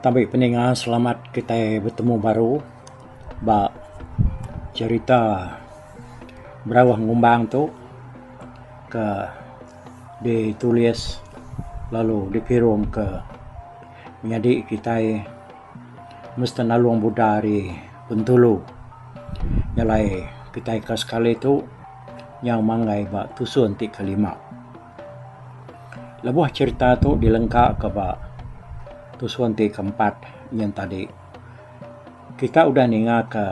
Tabi peninga selamat kitai betemu baru ba cerita berauh ngumbang tu ke ditulis lalu dipirumka nyadi kitai mesti nalung buda ari Bintulu. Nya alai kitai ka sekali tu nyau manggai ba tusun ti kelima. Lebuh cherita tu dilengka ka ba tusun ti keempat nyen tadi kita udah ninga ka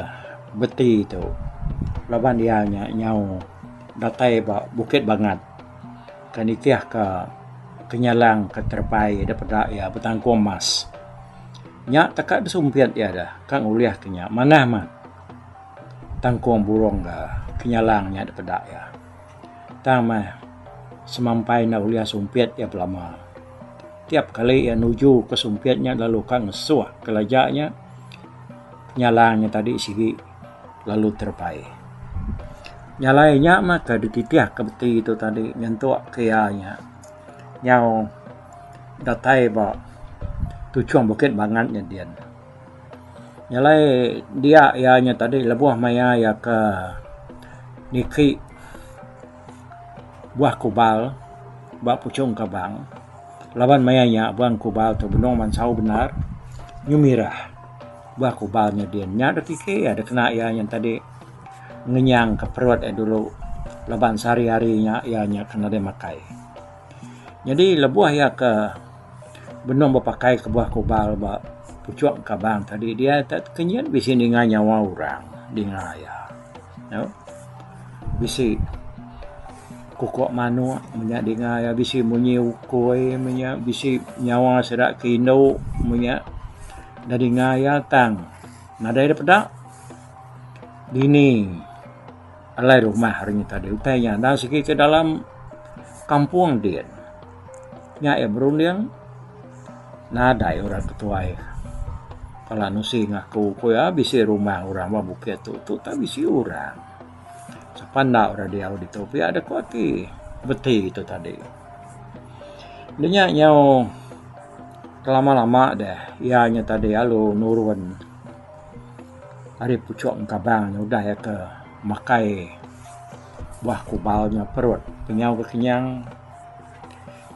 beti tu laban iya nya nyau datai ba bukit bangat ke nitih ka kenyalang ke terepai da peda iya betangkung emas. Nya teka da sumpit iya da ka ngulih ka nya manah mah tangkung burung da kenyalang nya da peda iya. Tang meh, semampai enda ulih sumpit iya belama. Tiap kali iya nuju ke sumpit nya lalu ka ngesuh kelaja nya, penyalang nya tadi sigi lalu terebai. Nyalai nya mah ke dititih ke beti tu tadi nyentuk ke iya nya nyau datai ba tuchung bukit bangat nya din. Nyelai dia iya nya tadi lebuh maya iya ke niki buah kubal ba puchung Kabang laban maya nya buah kubal tu benung mansau bendar nyu mirah buah kubal nya din. Nya da tiki iya da kena iya nya tadi ngenyang ka perut iya dulu laban sehari-hari nya iya nya ke nadai makai. Nyadi lebuh iya ke benung bepakai kebuah kubal ba puchung kabang tadi dia ita tu ke nyin bisi ninga nyawa orang dinga iya. Nya bisi kuko manok menya dinga iya bisi munyi ukoi menya bisi nyawa sida ke indu menya da dinga iya tang nadai da peda dini. Alai rumah hari nya tadi utai nya enda sigi ke dalam kampung din. Nya iya berunding nadai orang ketuai kala nusi ngaku ku iya bisi rumah orang ba bukit tu tu tau bisi orang. Sapa enda orang diau ditu pia deh ku ati beti tu tadi. Di nya nyau kelama lama deh iya nya tadi lalu nurun. Ari puchok engkabang nya udah iya ke makai buah kubal nya perut kenyau ke kenyang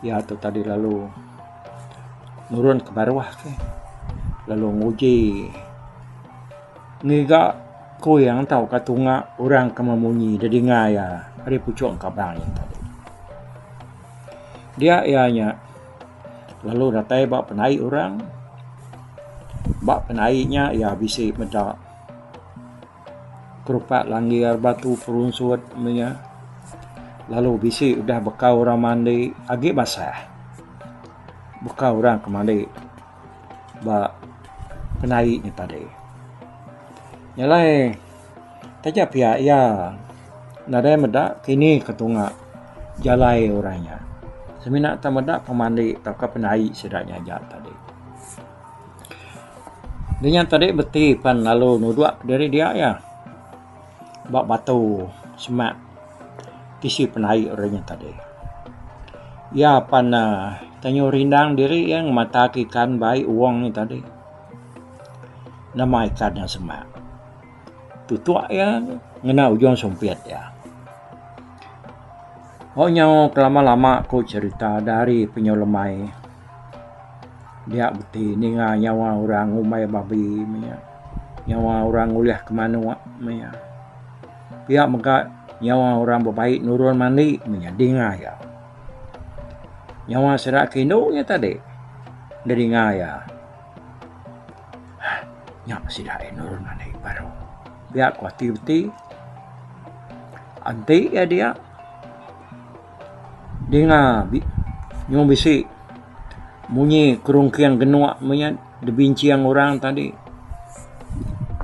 iya tu tadi lalu nurun ke baruh ke lalu nguji ngiga kuing tauka tunga orang ke meh munyi da dinga iya ari puchok engkabang nya tadi. Dia iya nya. lalu datai ba penai orang ba penai nya iya bisi meda kerupak langgar batu perunsut meh iya lalu bisi udah baka orang mandi agi basah baka orang ke mandi ba penai nya tadi nyelai. Taja pia iya nadai meda kini ke tunga jalai orang nya semina tau meda pemandi tauka pendai sida nya aja tadi. Dinya tadi beti pan lalu nudok diri dia iya ba batu semak tisi pendai orang nya tadi. Iya pan tanyu rindang diri iya ngemata ke ikan bai uong nya tadi. Nama ikan nya semak. Tutuak iya ngena ujung sumpit iya. Hok nyau kelama-lama ku cerita dari penyu lemai dia beti ninga nyawa orang ngumbai babi meh iya. Nyawa orang ngulih ke manok meh iya. Pia mega nyawa orang bebai nurun mandi meh iya dinga iya. Nyawa sida ke indu iya tadi da dinga iya. Nya pa sida endur ngagai baru pia ku ati beti enti iya dia dinga nyung bisi munyi kerungking genuk meh iya dibincang orang tadi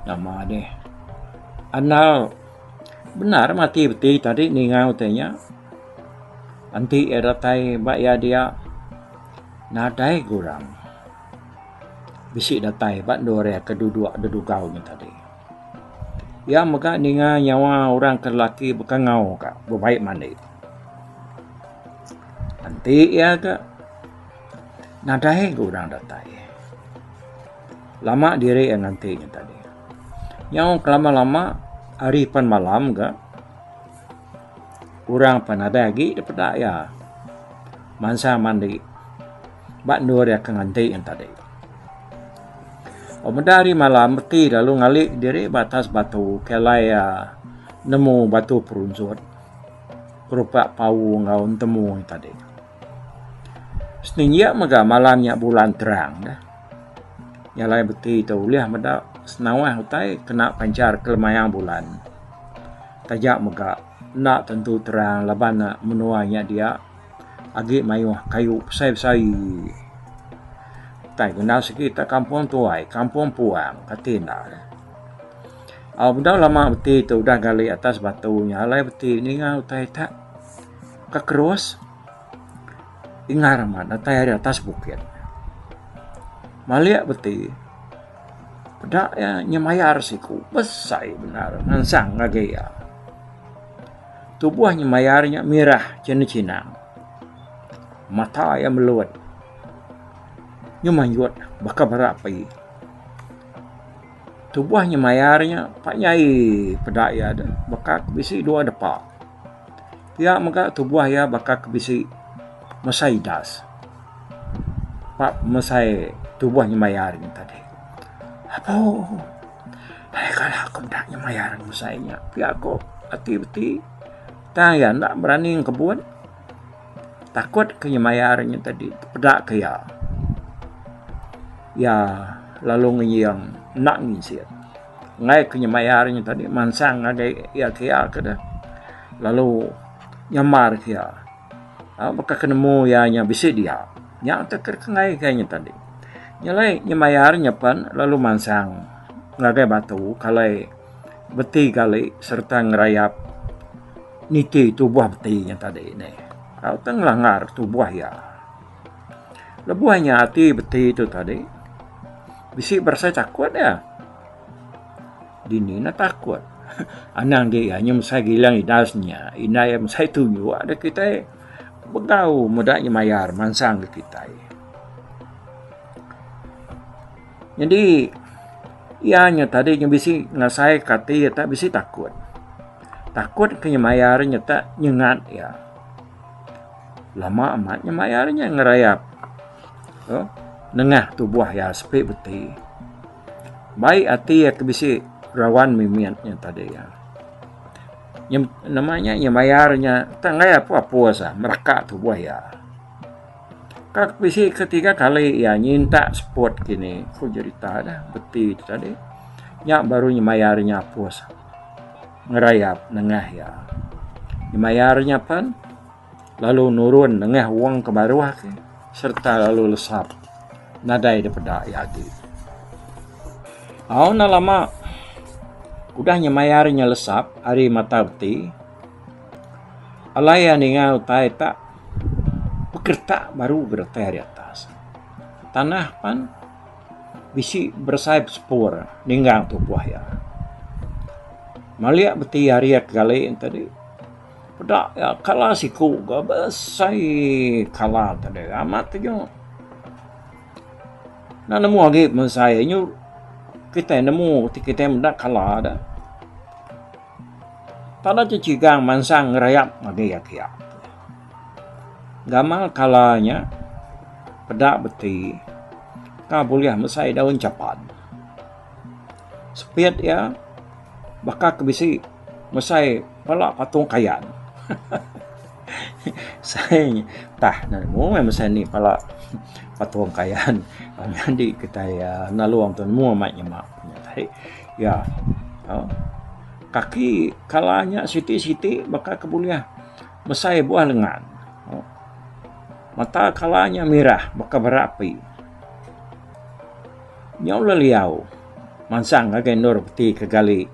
nama deh anal bendar meh ati beti tadi ninga utai nya enti iya datai ba iya dia. Nadai gurang. Bisi datai ba endur iya ke duduk dedugau nya tadi. Iya mega ninga nyawa orang ke lelaki bekangau ka bebai mandi. Enti iya ga nadai gurang datai. Lama diri iya nganti nya tadi. Nyau kelama-lama ari pan malam ga. Orang pan nadai agi da peda iya mansang mandi ba endur iya ke nganti ngan tadi. Pak meda hari malam reti lalu ngali diri ba atas batu ke alai iya nemu batu perunjut berupa pau enggau entemu ngan tadi. Seninjia mega malam nya bulan terang dah. Nya alai beti tu ulih meda senawah utai kena panchar kelemayang bulan. Taja mega, enda tentu terang laban menua nya dia agi mayuh kayu besai-besai. Utai ku enda sekita kampung tuai, kampung puang kati enda lah. Au bedau lama beti tu udah gali atas batu nya alai beti ninga utai tak ka kerus ingar amat utai ari atas bukit. Malik beti. Peda iya nya mayar siku besai bendar ngansang ngagai iya. Tubuh nya mayar nya mirah chinang-chinang. Mata iya melut nyu manjut baka bara api. Tubuh nya mayar nya pa nyai peda iya deh baka bisi dua depa. Pia mega tubuh iya baka ke bisi mesai das ba mesai tubuh nyemayar nya tadi. Apoh ai kala aku enda nyemayar mesai nya pia ku ati beti tang iya enda berani ngekebut takut ke nyemayar nya tadi peda ke iya. Iya lalu ngeyeng enda ngisit. Enggai ku nya mayar nya tadi mansang ngagai iya ke iya ke deh lalu nyamar ke iya aaa baka ke nemu iya nya bisi dia nya teh ke enggai ke nya tadi nya alai nya mayar nya pen lalu mansang ngagai batu kalai beti gali serta ngerayap niti tubuh beti nya tadi ne tau teh ngelanggar tubuh iya. Lebuh inya ati beti tu tadi, bisi berasai takut iya. Dini neh takut. Anang dia iya nyau mesai gilang idas inya. Indai iya mesai tunjuk deh kitai begau meda inya mayar mansang deh kitai. Nyadi iya nya tadi nya bisi ngasai ka ati iya tak bisi takut. Takut ke inya mayar inya tak nyengat iya. Lama amat nya mayar nya ngerayap tu nengah tubuh iya sepi beti. Bai ati iya ke bisi rawan mimit nya tadi iya. Nya nama nya iya mayar nya tang iya pun apus ah meraka tubuh iya. Kak bisi ke tiga kali iya nyinta seput kini ku jerita dah beti ti tadi nya baru mayar nya apus. ngerayap nengah iya. Nyemaia ri nya pen, lalu nurun nengah wong ke baruh ke sereta lalu lesap nadai dipeda iya agi. Au enda lama udah nyemaia ri nya lesap ari mata beti, alai iya ninga utai tak pekeretak baru ke datai ri atas tanah pen. Bisi beresai besepur ninggang tupuh iya. Malik beti ari iya kegali enti di. Peda iya kala siku ga beresai kala enti di amat taja. Enda nemu agi beresai nyu kitai nemu ti kitai meda kala da. Tanda ti cigang mansang ngerayap ngagai iya kiya. Gamal kala nya peda beti ka bulih mesai daun chapan. Sepit iya baka ke bisi mesai pala patung kayan. Sai nya tah nemu meh mesai nih pala patung kayan. Nyadi kitai nalung tu nemu amat nyema. Iya. Au. Kaki kala nya siti-siti baka ke bulih mesai buah lengan. Au. Mata kala nya mirah baka bara api. Nya ulih liau mansang ngagai endur peti ke gali.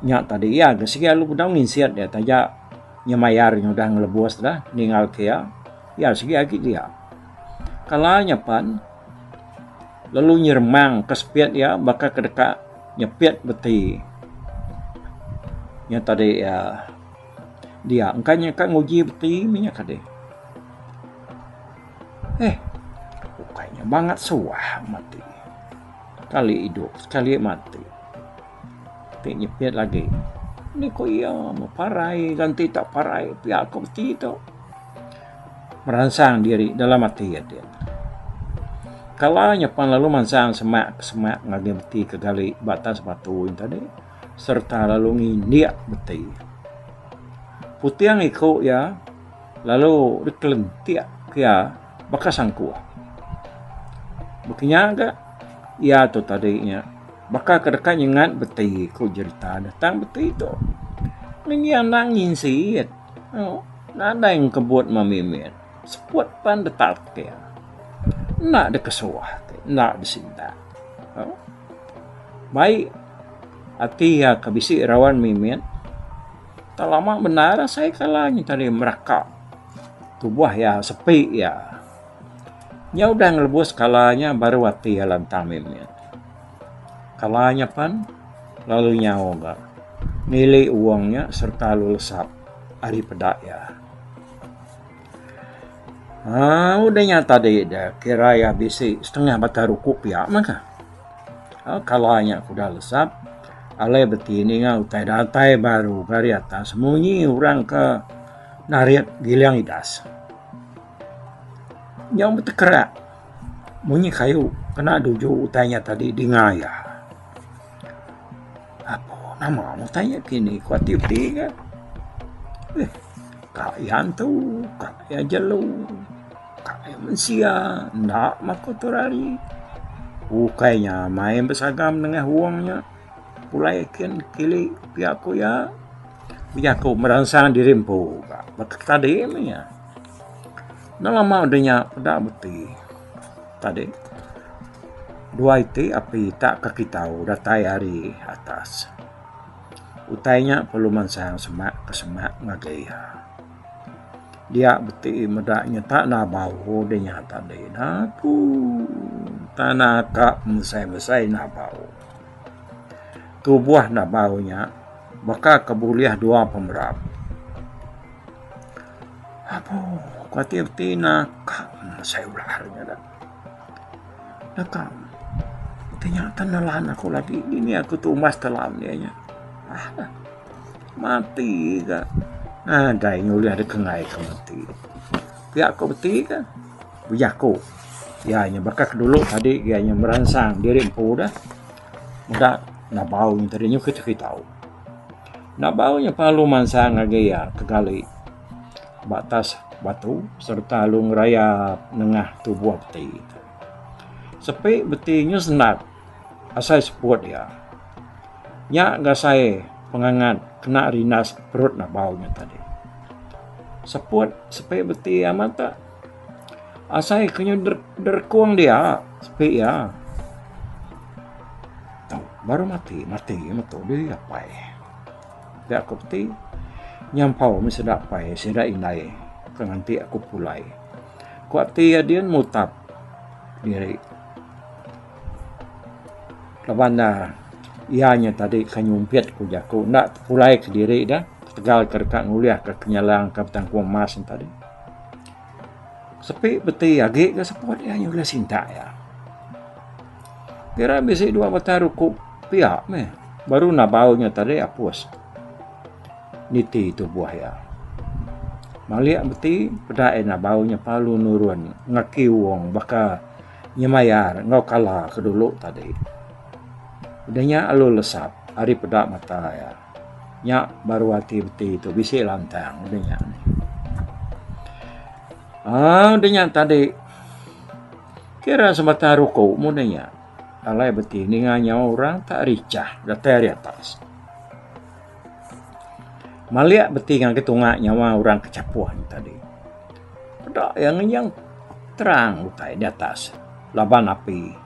Nya tadi iya ke sigi alu bedau nginsit iya taja nya mayar nya udah ngelebus dah ningalka iya. Iya sigi agi dia. Kala nya pan. lalu nyeremang ka sepit iya baka ke deka nyepit beti nya tadi iya dia engka nya ka nguji beti nya tadi eh ukai nya bangat suah amat ti sekali idup sekali mati ti nyepit lagi ni ko iya meh parai ganti tak parai pia ko ti tu. meransang diri dalam ati ading. Kala nya pan lalu mansang semak ke semak ngagai beti ke gali ba atas batu nya tadi sereta lalu ngindik beti. Puting iku iya lalu dikelentik ke iya baka sangkuh. Baka nya ga iya tu tadi nya baka ke deka nyengat beti ku jerita ne tang beti tu meh iya enda nginsit. Nadai engkebut memimit, seput pan detatir. Enda dikesuah ti, enda disintak. Mai ati iya ke bisi rawan mimit, tau lama bendar asai kala nyin tadi meraka tubuh iya, sepi iya. Nya udah ngelebus kala nya baru ati iya lantang mimit. Kala nya pan, lalu nyau ga nili uong nya sereta lalu lesap ari peda iya. Haa udah nya tadi da kira iya bisi setengah batang ruku pia mah ka. Haa kala nya ku udah lesap alai beti ninga utai datai baru ka ari atas munyi orang ka narit giling idas. Nyau betekerak. Munyi kayu kena duju utai nya tadi dinga iya. Apo nama utai nya kini ku ati ati ke eh ka iya antu ka iya jelu ka iya mensia enda makuh tura ari. Ukai nya mai besagam nengah wong nya pulai kin kili pia ku iya bejaku meransang diri empu ka baka ke tadi meh iya. Enda lama udah nya peda beti tadi dua iti api ita ka kitau datai ari atas. Utai nya perlu mansang semak ke semak ngagai iya. Dia beti meda nyata enda bau deh nya tadi napuu tana ka mesai mesai enda bau. Tubuh enda bau nya baka ke bulih dua pemerap. Apo kuatir ti nakam mesai ular nya dah. Nakam ti nya akan nelan aku lagi dini aku tumbas telan iya nya. Alah mati ga nadai ngulih deka ngai aku mati. Pia ku meti ka bejaku iya nya baka ke dulu tadi iya nya meransang diri empu dah meda ngabau tadi nyengkit aku tau. Nabau nya palu mansang ngagai iya kegali ba atas batu sereta lalu ngerayap nengah tubuh beti. Sepi beti nya sendap asai seput iya. Nya ga asai pengangat kena rindas perut Nabau nya tadi. Seput sepi beti amat ka. Asai ke nyau derkung dia sepi iya baru mati mati meto diri iya apai pia ko peti nyampau meh sida apai sida indai ke nganti aku pulai ko ati iya dian mutap diri laban ne iya nya tadi ke nyumpit ku jaku enda tepulai ke diri dia ketegal ke deka ngulih ke nyalang ke betangkung emas tadi. Sepi peti agi ke seput iya nyulah sintak iya. Kira bisi dua batang ruku pia meh baru nabau nya tadi apus niti tubuh iya. Malik meti peda iya nabau nya palu nurun ngaki wong baka nyemayar enggau kala ke dulu tadi. Udah nya lalu lesap ari peda mata iya. Nya baru ati beti tu bisi lantang udah nya. Ah udah nya tadi kira sebatang ruku mu udah nya. Alai beti ninga nyawa orang tak richah datai ari atas. Malik beti ngagai tunga nyawa orang ke chapuh nya tadi. Peda iya ngenyang terang utai di atas laban api.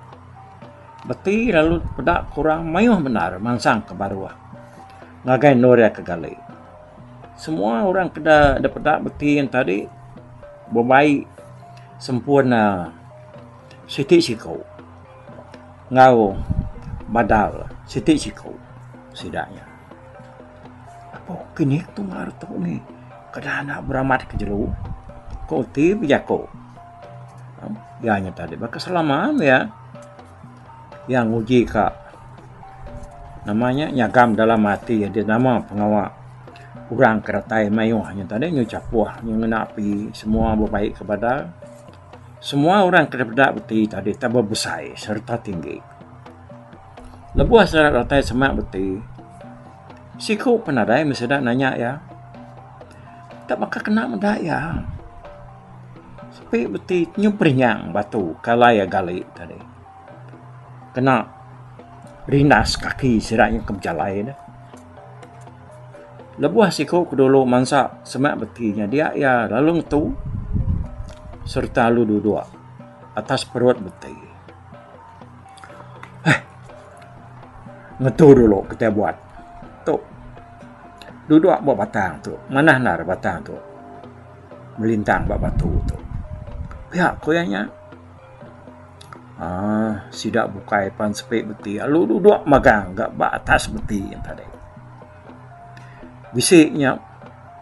Beti lalu peda kurang mayuh bendar mansang ke baruh ngagai endur iya ke gali. Semua orang ke da peda beti yen tadi bebai sempun uhh siti siku enggau badal siti siku sida nya. Apo kini tunga retu ni keda enda beramat ke jelu, ko ti bejaku. Iya nya tadi baka selama iya iya nguji ka nama nya nyagam dalam ati nya deh nama pengawa orang ke datai mayuh nya tadi nyau chapuh nyau ngena api semua bebaik ke badan semua orang ke dipeda beti tadi tau bebesai sereta tinggi. Lebuh sida datai semak beti siku penadai meh sida nanya iya tau baka kena meda iya. Sepi beti nyuperinyang batu kalai iya gali tadi. Kena rindas kaki sida nya ke bejalai ne. Lebuh siku ke dulu mansa semak beti nya dia iya lalu ngetu sereta lalu duduk atas perut beti. Heh. Ngetu dulu kitai buat. Tu. Duduk ba batang tu. Manah endar batang tu. melintang ba batu tu. Pia ku iya nya uhh sida bukai pan sepi beti lalu dudok magang ga ba atas beti nya tadi. Bisi nya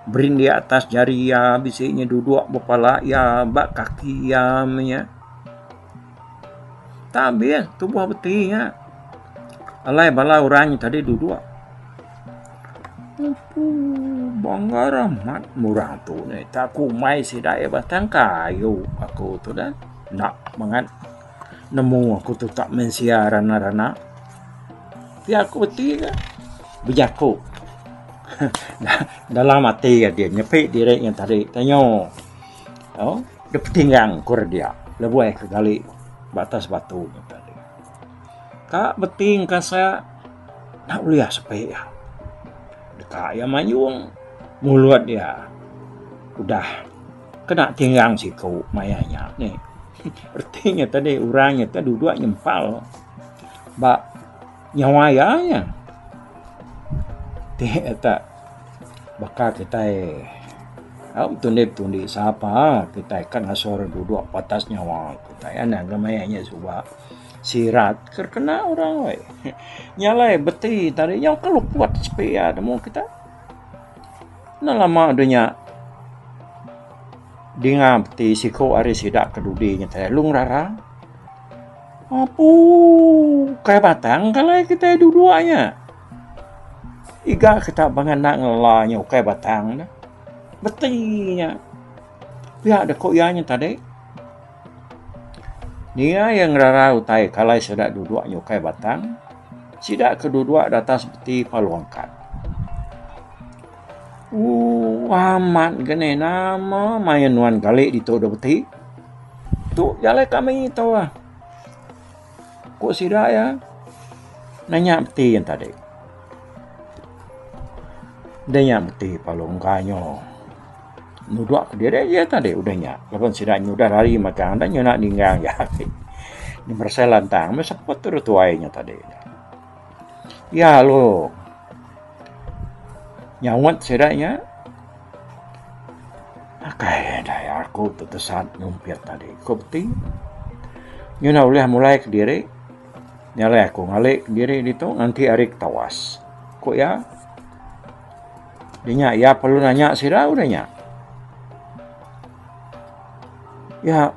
berindik atas jari iya bisi nya dudok ba pala iya ba kaki iya meh nya. Tang ambin tubuh beti nya alai bala orang nya tadi duduk ooh banggar amat meh orang tu neh ita ku umai sida iya batang kayu aku tu dah enda mangat nemu aku tu tak mensia rana-rana tapi aku beti ne bejaku dalam ati adeh nyepi diri nya tadi tanyo. Au, dep petingang ku re dia lebuh ke gali ba atas batu nya tadi. Ka beting ka sa enda ulih sepi iya. Deka iya mayung mulut iya udah kena tinggang siku maya nya nih. Reti nya tadi orang nya duduk nyempal ba. Nyawa iya nya ti tak baka kitai au betundi betundi sapa kitai ka ngasur duduk batas nyawa kitai anak ke maya nya suba sirat ke kena orang weh. Nya alai beti tadi nyau ke luput sepi iya nemu kitai. Na lama deh nya dinga beti siku ari sida ke dudi ngetai Lungrara. Apu, kai batang ka alai kitai dua-dua nya. Iga kita bangah enda ngela nya ukai batang dah. Beti nya. Pia deh ku iya nya tadi. Ninga iya ngerara utai ka alai sida dua-dua nya ukai batang, sida ke dua-dua datas beti palu angkat. Ooh amat ga neh nama main nuan kali ditu dau beti. Tu ja alai kami tu ah. Ku sida iya nanya beti yen tadi. Deh nya beti lalu mega nyo nudok kediri iya tadi udah nya laban sida udah lari matan dah nyau enda ninggang ja agi. Beresei lantang meh seput tu dah tuai nya tadi. Iya lalu nyaut sida nya akai dai aku tu tesan ngumpit tadi ku ti ngin iya ulih mulai kediri ngalai aku ngali kediri ditu nganti hari ketawas ku iya dinya iya perlu nanya sida udah nya iya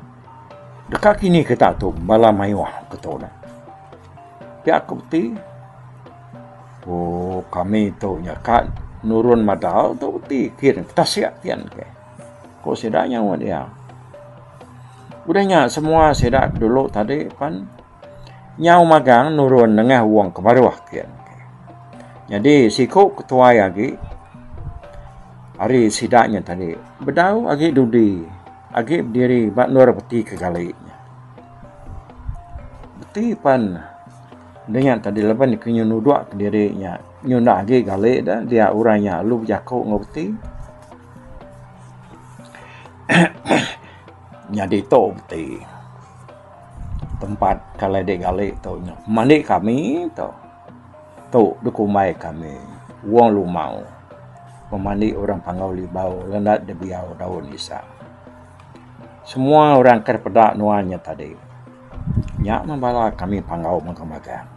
deka kini kita tu bala mayuh ke tu. Pia aku ti ooh kami tu nya ka nurun madal tu ti kin tasik kian ke ku sida nyauh iya. Udah nya semua sida ke dulu tadi pen nyauh magang nurun nengah wong ke baruh kian ke. Nyadi siku ke tuai agi ari sida nya tadi bedau agi dudi agi bediri ba endur peti ke gali nya. Beti pan dinga tadi laban ke nyu nudok kediri nya nyu enda agi gali da dia orang nya alu bejaku enggau beti nyadi tu beti tempat kalai dik gali tu nya mandi kami tu tu dikumbai kami wong lumau pemandi orang pangau libau lenda dibiau daun isa. Semua orang ke peda nuan nya tadi. Nya mah bala kami panggau mega magang.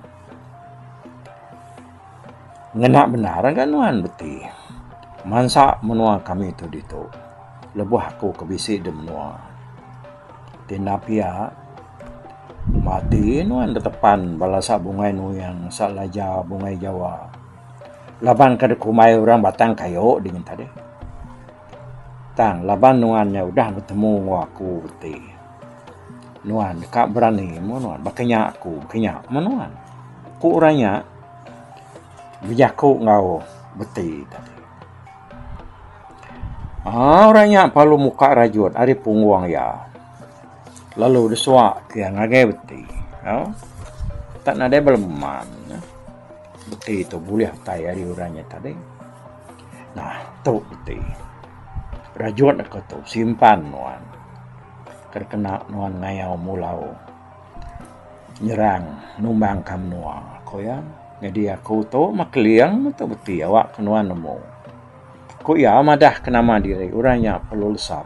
Ngena bendar ga nuan beti mansa menua kami tu ditu lebuh aku ke bisi di menua ti enda pia mati nuan betepan bala sa bungai nuing sa laja bungai jawa laban ke dikumbai orang batang kayu dingin tadi. Tang laban nuan nya udah betemu enggau aku ti, nuan deka berani mung nuan baka nya aku baka nya mung nuan. Ku orang nya bejaku enggau beti tadi. Aaa orang nya parlu muka rajut ari punggung iya lalu disuak iya ngagai beti. Au tak nadai beleman beti tu bulih utai ari orang nya tadi. Nah, tu peti. Rajut aku tu simpan nuan. Kada kena nuan ngayau mulau nyerang numbang ka menua aku iya. Nyadi aku tu meh keling meh tu peti awak ke nuan nemu. Ku iya madah ke nama diri orang nya perlu lesap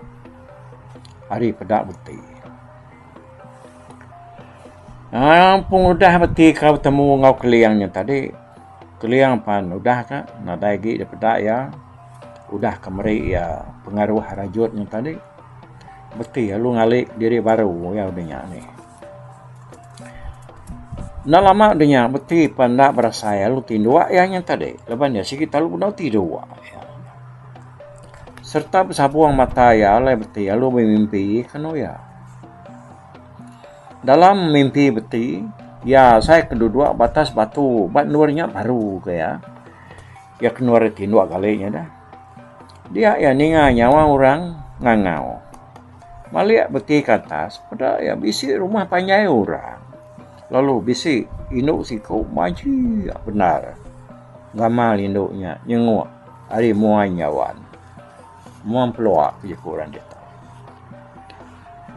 ari peda peti. Ah, pengudah beti ka betemu enggau Keliang nya tadi. Keliang pan udah ka nadai agi dipeda iya. Udah ka meri iya pengaruh rajut nya tadi. Beti lalu ngali diri baru iya udah nya nih. Enda lama udah nya beti pan enda berasai lalu tinduk iya nya tadi laban iya sigi tau udah tidur. Sereta besabung mata iya alai beti lalu bemimpi kenu iya. Dalam mimpi beti, iya asai ke duduk ba atas batu ba endur nya baru ke iya. Iya kenu ari tinduk gali nya dah. Dia iya ninga nyawa orang ngangau. Malik beti ke atas peda iya bisi rumah panjai orang lalu bisi indu siku majik bendar gamal indu nya nyenguk. Ari muai nyawan muang pelua ke jeku orang ditu.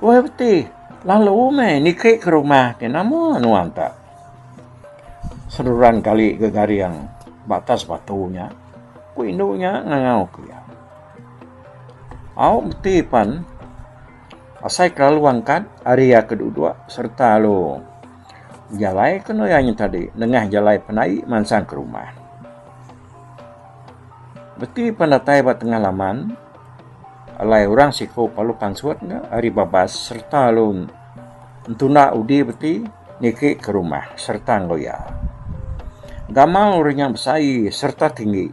Weh beti lalu meh niki ke rumah ti nama nuan ta. Seruran kali ke garing ba atas batu nya ku indu nya ngangau ku iya. Au beti pen asai kelalu angkat ari iya ke duduk sereta lalu. Jalai ke nuya nya tadi nengah jalai penai mansang ke rumah. Reti pan datai ba tengah laman alai orang siko palu pansut nya ari babas sereta lu entunda udi beti niki ke rumah sereta enggau iya. Gamal uri nya besai sereta tinggi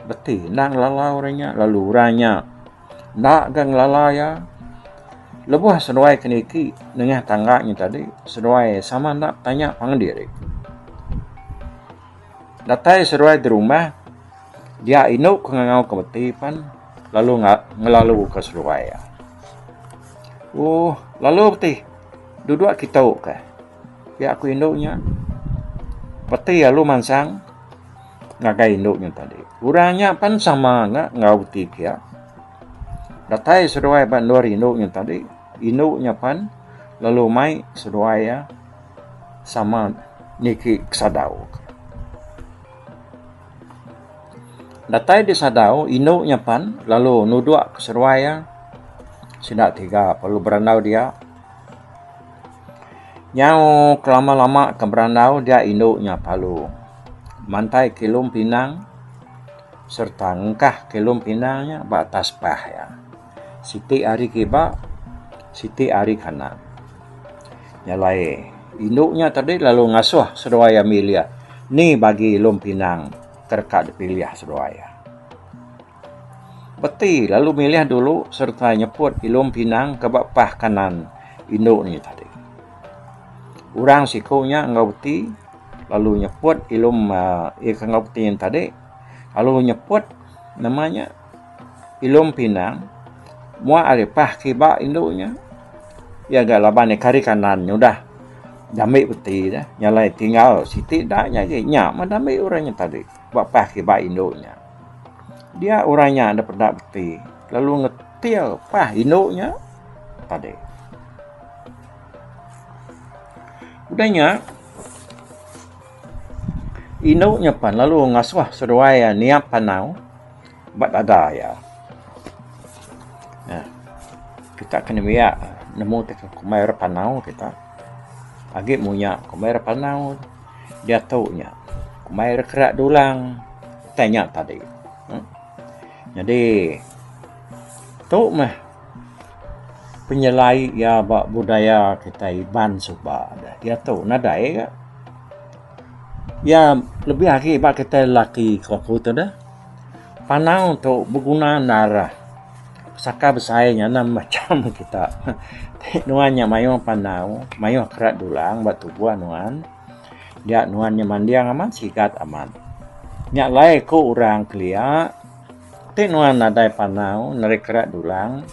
beti endang lalau uri nya lalu orang nya. Enda ga ngelala iya. Lebuh seduai ke niki nengah tangga nyin tadi, seduai sama enda betanya pangan diri. Datai seduai dirumah, dia indu ke ngangau ke meti pan lalu ngelalu ke seduai iya. Ooh lalu ti duduk kitu kah. Ti aku indu nya peti alu mansang ngagai indu nya tadi. Orang nya pan sama nga enggau ti kia. Datai seduai ba endur indu nya tadi, indu nya pan lalu mai seduai iya sama niki kesadau. Datai disadau indu nya pan lalu nudok seduai iya sida tiga lalu berandau dia. Nyau kelama-lama ke berandau dia indu nya palu. Mantai kilum pinang sereta ngengkah kilum pinang nya ba atas pah iya. Siti ari kiba, siti ari kanan. Nya alai indu nya tadi lalu ngasuh seduai ami ilih ni bagi ilum pinang ke deka dipilih seduai iya. Peti lalu milih dulu sereta nyeput ilung pinang ke ba pah kanan indu nya tadi. Orang siku nya enggau peti lalu nyeput ilung aaa iya ke enggau peti nya tadi lalu nyeput nama nya ilung pinang muak ari pah kiba indu nya iya ga laban ari kari kanan nya udah diambi peti dah tinggal siti da nya agi nya mah diambi orang nya tadi. Ba pas kiba indu nya, dia orang nya enda peda beti lalu ngetil pas indu nya tadi. Udah nya indu nya pan lalu ngasuh seduai niap panau. Ba dada iya. Nah, kita kena miak nemu teka kumbai orang panau kita. Agi munya kumbai orang panau diatu nya. Kumbai orang kera dulang utai nya tadi. Em. Nyadi tu meh penyelai iya ba budaya kita Iban suba ne. Diatu nadai ga. Iya lebih agi ba kita lelaki ke aku tu deh. Panau tu beguna nara saka besai nyanam macam kita. Ti nuan nya mayuh panau, mayuh kera dulang ba tubuh nuan. Dia nuan nya manding amat sigat amat. Nya alai ku orang kelia ti nuan nadai panau nadai kera dulang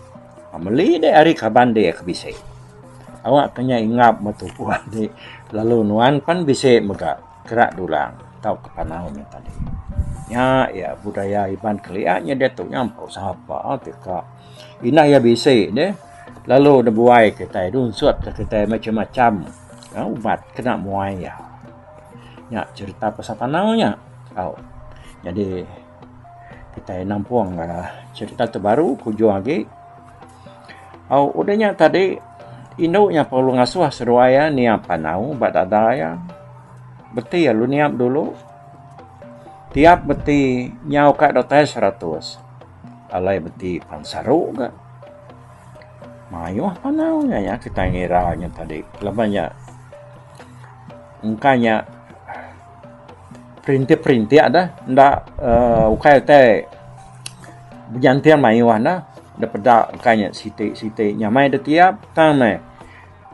meli deh ari kaban deh ke bisi. Awakka nya ingap ba tubuh deh lalu nuan pan bisi mega. Kerak dulang tauka panau nya tadi. Nya iya budaya Iban kelia nya diatu nya empu sapa ti ka indah iya bisi deh lalu nebuai kitai nunsut ka kitai macam-macam ubat kena muai iya. Nya cerita pasal panau nya. Au. Jadi kitai nampung cerita tu baru ke ujung agi. Au udah nya tadi indu nya perlu ngasuh seduai iya niap anau ba dada iya. Beti alu niap dulu. Tiap beti nyau ka datai seratus alai beti pan saru ga. Mayuh anau nya iya kitai ngira nya tadi. Laban nya engka nya Perintik-perintik dah enda uh, ukai utai bejantin mayuh dah da peda ukai nya siti-siti nyamai da tiap tang meh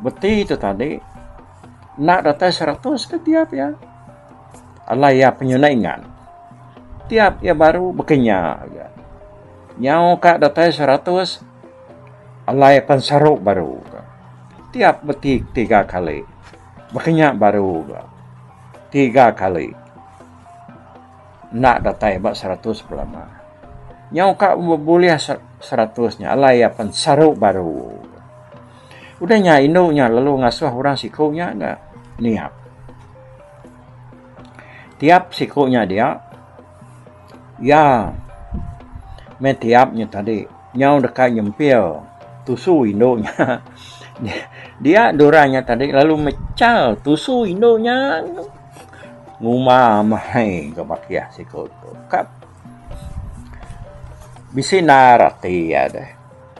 beti tu tadi enda datai seratus ke tiap ya alai ya penyuna ingat tiap ya baru bekenya ya nyau ka datai seratus alai pan sarup baru tiap beti tiga kali Baka nya baru ga tiga kali enda datai ba seratus belama. Nyau ka bulih seratus nya alai iya pen saru baru. Udah nya indu nya lalu ngasuh orang siku nya ga niap. Tiap siku nya dia. Iya meh tiap nya tadi nyau deka nyempil tusu indu nya. Dia Dora nya tadi lalu mechal tusu indu nya nguma meh ga ba kiyah siku tu. Kap bisi naar ati iya deh.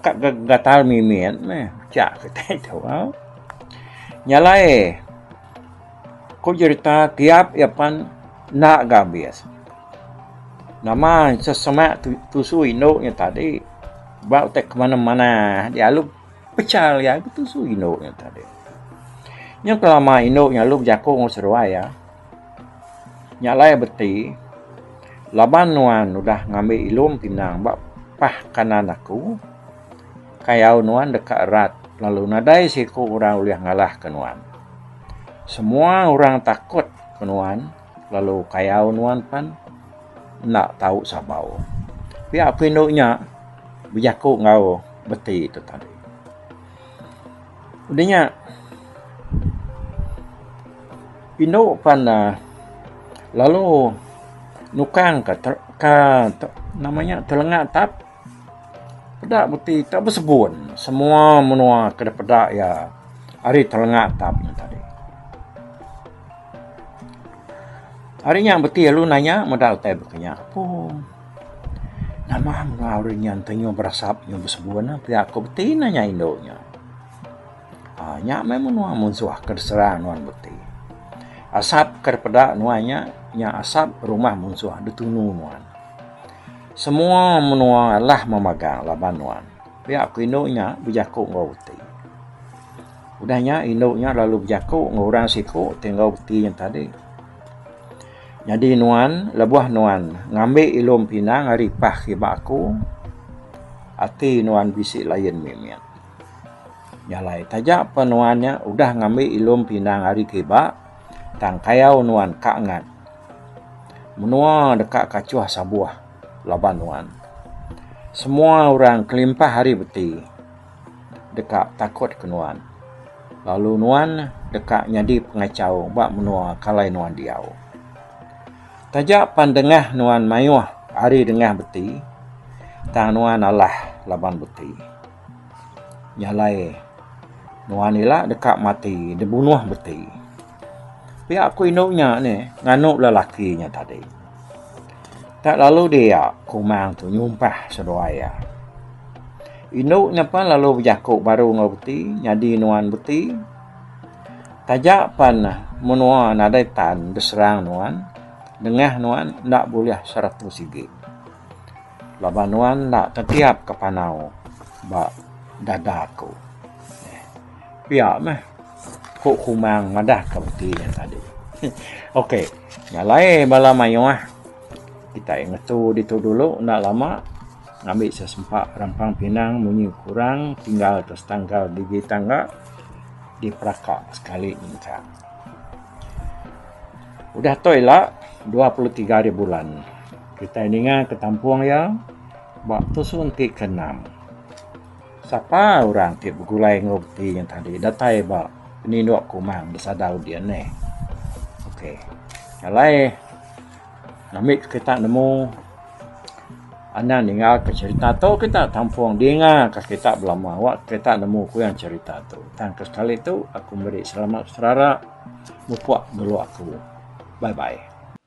Kap ga gatal mimit meh. Pechak kitai tu au. Nya alai. Ku jerita kiap iya pan enda ga abis. Nama sesemak tusu indu nya tadi ba utai ke manah manah dialu pecha iya ke tusu indu nya tadi. Nyau ke lama indu nya lalu bejaku enggau seruai iya. Nya alai iya beti laban nuan udah ngambi ilum pinang ba pah kanan aku. Kayau nuan deka erat, lalu nadai seiku orang ulih ngalahka nuan. Semua orang takut ke nuan, lalu kayau nuan pen enda tau sabau. Pia ku indu nya bejaku enggau beti tu tadi. Udah nya indu pen uhh lalu nukang ka ka nama nya telenga tap. Peda meti tak besebun semua menua ke dipeda iya ari telenga tam nya tadi. Ari nya meti lalu nanya meda utai baka nya pun. Nama menua ari nya enti nyau berasap nyau besebun pia ku beti nanya indu nya. Aaa nya meh menua munsuh ke diserang nuan beti. Asap ke dipeda nuan nya, nya asap rumah munsuh ditunu nuan. Semua menua alah memagang laban nuan. Pia ku indu nya bejaku enggau beti. Udah nya indu nya lalu bejaku enggau orang siku ti enggau beti nya tadi. Nyadi nuan lebuh nuan ngambi ilum pinang ari pah kiba aku ati nuan bisi lain mimit. Nya alai taja pa nuan nya udah ngambi ilum pinang ari kiba tang kayau nuan ka ngat. Menua deka kachuh sabuh laban nuan. Semua orang kelimpah ari beti deka takut ke nuan lalu nuan deka nyadi pengachau ba menua kalai nuan diau. Taja pan dengah nuan mayuh ari dengah beti tang nuan alah laban beti. Nya alai nuan ila deka mati dibunuh beti. Pia ku indu nya nih nganu bala laki nya tadi. Tak lalu dia kumang tu nyumpah seduai iya. Indu nya pen lalu bejaku baru enggau beti nyadi nuan beti. Taja pen menua nadai tan diserang nuan nengah nuan enda bulih seratus sigi. Laban nuan enda tetiap ke panau ba dada aku. Pia meh. Ku Kumang madahka beti nya tadi. ok, nya alai bala mayuh kitai ngetu ditu dulu enda lama ngambi sesempa rampang pinang munyi kurang tinggal atas tangkal digi tangga diperaka sekali nyengkang. Udah tu ila dua puluh tiga ari bulan kitai ninga ke tampung iya ba tusun ti keenam. Sapa orang ti begulai enggau reti nya tadi datai ba penindok ku mang da sadau dia neh. Okey. Alai ngambi kita nemu anak ninga ka cerita tu kita tampung dinga ka kita belama wak kita nemu ku iya cerita tu. Tang ke sekali tu aku meri selamat serara mupok dulu aku. Bye bye.